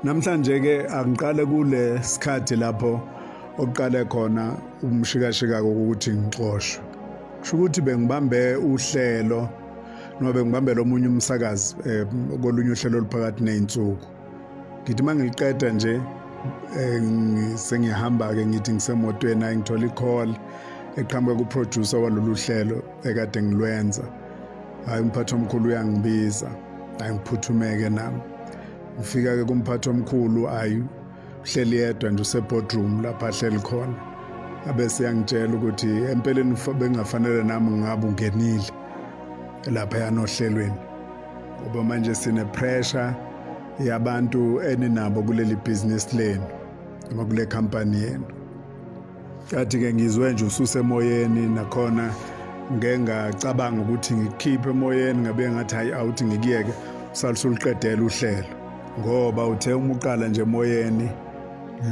Namhlanje ke angiqale kule sikhathi lapho oqale khona umshikashika ukuthi ngixoshwe. Kusho ukuthi bengibambe uhlelo noma bengibambela omunye umsakazi eh, kolunye uhlelo oluphakathi nezinsuku. ngithi uma ngiliqeda nje eh, sengiyahamba-ke ngithi ngisemotweni ayi ngithola i-call eqhamuka kuproducer walolu hlelo ekade ngilwenza hhayi umphathi omkhulu uyangibiza hhayi ngiphuthumeke nami ngifika-ke kumphathi omkhulu ayi uhleli yedwa nje usebodroom lapho ahleli khona abese yangitshela ukuthi empeleni bengafanele nami ngabe ungenile lapha yanohlelweni ngoba manje sine pressure yabantu eninabo kuleli business lenu noma kule company yenu kathi ke ngizwe nje ususe emoyeni nakhona ngengacabanga ukuthi ngikhiphe emoyeni ngabe ngathi hayi awuthi ngikuyeke usalusuluqedela uhlelo ngoba uthe uma uqala nje emoyeni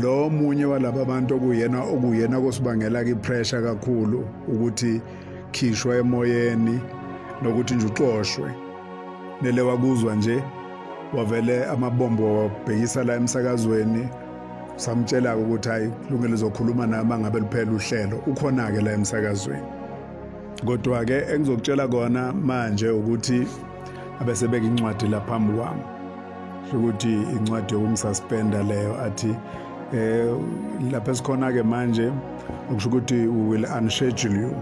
lo munye walaba bantu okuyena okuyena kosibangela ke pressure kakhulu ukuthi khishwa emoyeni nokuthi nje uxoshwe nele wakuzwa nje wavele amabombo wabhekisa la emsakazweni samtshela-ke ukuthi hhayi lungelo uzokhuluma nami angabe luphela uhlelo ukhona-ke la emsakazweni kodwa-ke engizokutshela kona manje ukuthi abesebeka incwadi la phambi kwami ukuthi incwadi yokumsuspenda leyo athi eh lapha sikhona ke manje ukusho ukuthi we will unschedule you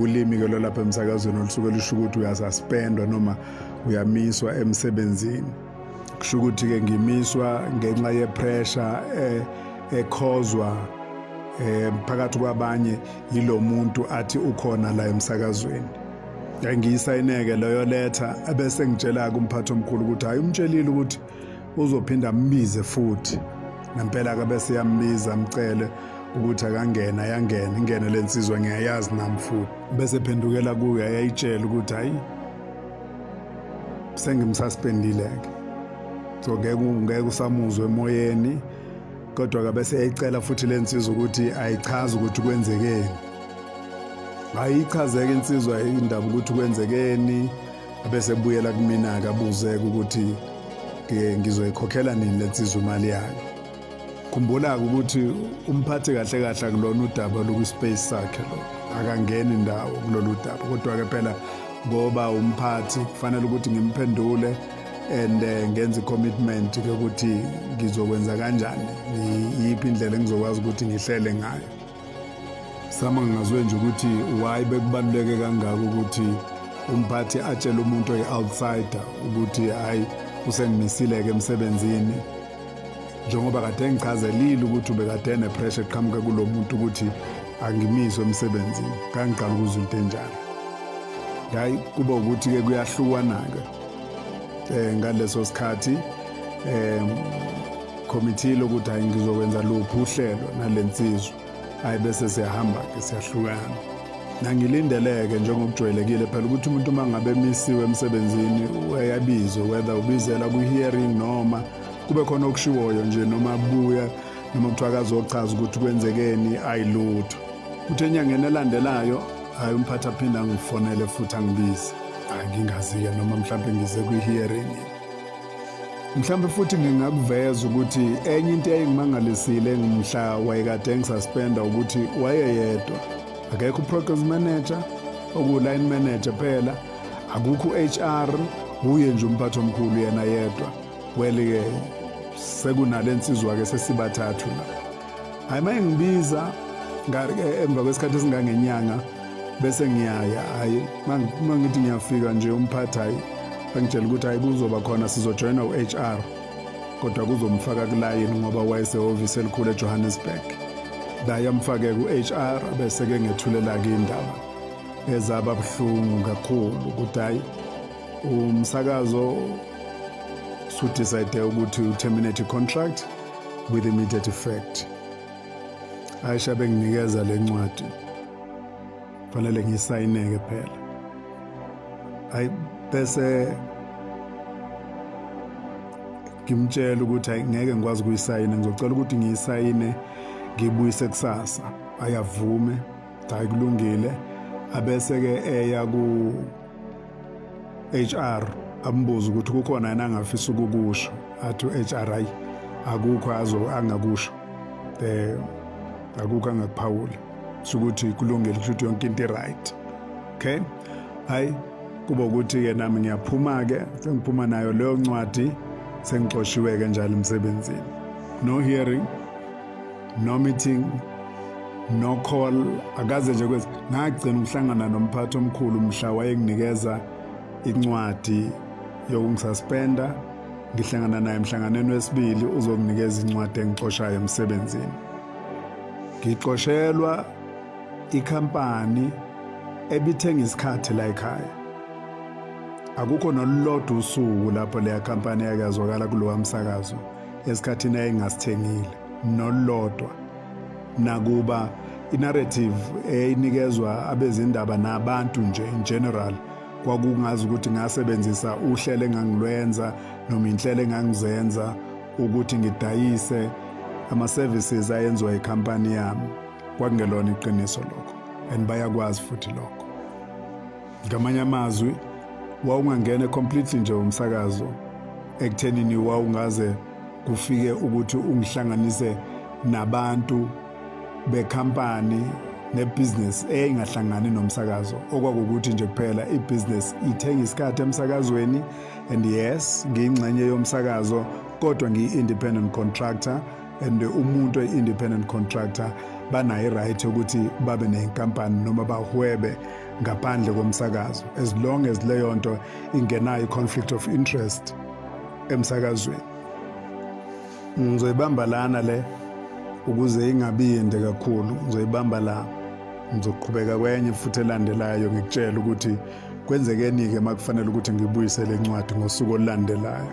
ulimi ke lolapha emsakazweni olusuke lusho ukuthi uyasuspendwa noma uyamiswa emsebenzini kusho ukuthi ke ngimiswa ngenxa ye pressure eh ekhozwa eh phakathi kwabanye yilomuntu athi ukhona la emsakazweni ngiyisayineke leyo letter abese ngitshela kumphathi omkhulu ukuthi hayi umtshelile ukuthi uzophinde ambize futhi ngempela ke bese yambiza amcele ukuthi akangena yangena ingene le nsizwa ngiyayazi nami futhi bese phendukela kuyo ayayitshela ukuthi hayi sengimsuspendile-ke so ngeke usamuzwe emoyeni kodwa ke bese eyicela futhi le nsizwa ukuthi ayichaze ukuthi kwenzekeni ayichazeke insizwa indaba ukuthi kwenzekeni bese buyela kumina akabuzeke ukuthi ngizoyikhokhela nini lensizwa imali yayo khumbula-ke ukuthi umphathi kahle kahle akulona udaba lokwispace sakhe lo akangeni ndawo kulolu daba kodwa-ke phela ngoba umphathi kufanele ukuthi ngimphendule and eh, ngenze i-commitment ukuthi ngizokwenza kanjani yiphi indlela engizokwazi ukuthi ngihlele ngayo sama ngingazwe nje ukuthi why bekubaluleke kangaka ukuthi umphathi atshele umuntu oyi-outsider ukuthi hhayi usengimisile-ke emsebenzini njengoba kade engichazelile ukuthi ubekade enepressure eqhamuke kulo muntu ukuthi angimiswe emsebenzini kangiqala ukuzwa into enjalo hhayi kuba ukuthi-ke kuyahlukwana-ke um ngaleso sikhathi um Khomitile ukuthi hayi ngizokwenza luphi uhlelo nale nsizwa. Hayi bese siyahamba-ke siyahlukana. Nangilindeleke njengokujwayelekile phela ukuthi umuntu uma ngabe emisiwe emsebenzini uyabizwe whether ubizela kwi-hearing noma kube khona okushiwoyo nje noma buya noma kuthiwa akazochaza ukuthi kwenzekeni ayilutho. Kuthe enyangeni elandelayo hayi umphathi aphinde angifonele futhi angibize. Hayi ngingazi-ke noma mhlawumbe ngize kwi-hearing. mhlawumbe futhi ngingakuveza ukuthi enye into eyayingimangalisile ngimhla wayekade engisuspenda ukuthi wayeyedwa akekho uprogress manager okuwu-line manager phela akukho u-hr wuye nje umphathi omkhulu yena yedwa wele-ke sekunale nsizwa-ke sesibathathu la hayi uma engibiza eh, emva kwesikhathi esingangenyanga bese ngiyaya hayi uma ngithi ngiyafika nje umphathi hayi angitshela ukuthi hayi kuzoba khona sizojoyina u-h r kodwa kuzomfaka kulayini ngoba wayesehhovisi elikhulu ejohannesburg daye amfake ku-h r bese-ke ngethulelake indaba ezaba buhlungu kakhulu ukuthi hayi umsakazo sudicide ukuthi uterminate i-contract with immediate effect aisha benginikeza le ncwadi fanele ngisayineke phela ayi bese ngimtshela ukuthi ayi ngeke ngikwazi ukuyisayina ngizocela ukuthi ngiyisayine ngibuyise kusasa ayavume cha kulungile abese ke eya ku HR ambuza ukuthi kukhona yena angafisa ukukusho athi HR ayi akukho azo angakusho eh akukho angakuphawula ukuthi kulungile ukuthi yonke into right okay hayi kuba ukuthi ke nami ngiyaphuma ke sengiphuma nayo leyo ncwadi sengixoshiwe ke njalo emsebenzini no hearing no meeting no call akaze nje kwezi ngagcina ukuhlangana nomphathi omkhulu mhla wayenginikeza incwadi yokungisaspenda ngihlangana naye emhlanganweni wesibili uzokunikeza incwadi engixoshayo emsebenzini ngixoshelwa ikhampani ebithenga isikhathi la ekhaya akukho nolulodwa usuku lapho leya khampani yakazwakala kulowa msakazo esikhathini ayengasithengile nolulodwa nakuba inarrative eyinikezwa abezindaba nabantu nje in general kwakungazi ukuthi ngasebenzisa uhlelo engangilwenza noma inhlelo engangizenza ukuthi ngidayise ama-services ayenziwa ikhampani yami kwakungelona iqiniso lokho and bayakwazi futhi lokho ngamanye amazwi wawungangene completely nje umsakazo ekuthenini wawungaze kufike ukuthi ungihlanganise nabantu bekhampani nebusiness eyayingahlangani nomsakazo okwakukuthi nje kuphela ibusiness ithenga isikhathi emsakazweni and yes ngiyingxenye yomsakazo kodwa ngiyi-independent contractor and umuntu oyi-independent contractor banayo i-right yokuthi babe nenkampani noma bahwebe ngaphandle komsakazo as long as leyo nto ingenayo i-conflict of interest emsakazweni ngizoyibamba lana le ukuze ingabi yinde kakhulu ngizoyibamba la ngizoqhubeka kwenye futhi elandelayo ngikutshela ukuthi kwenzekeni-ke uma kufanele ukuthi ngibuyise le ncwadi ngosuku olulandelayo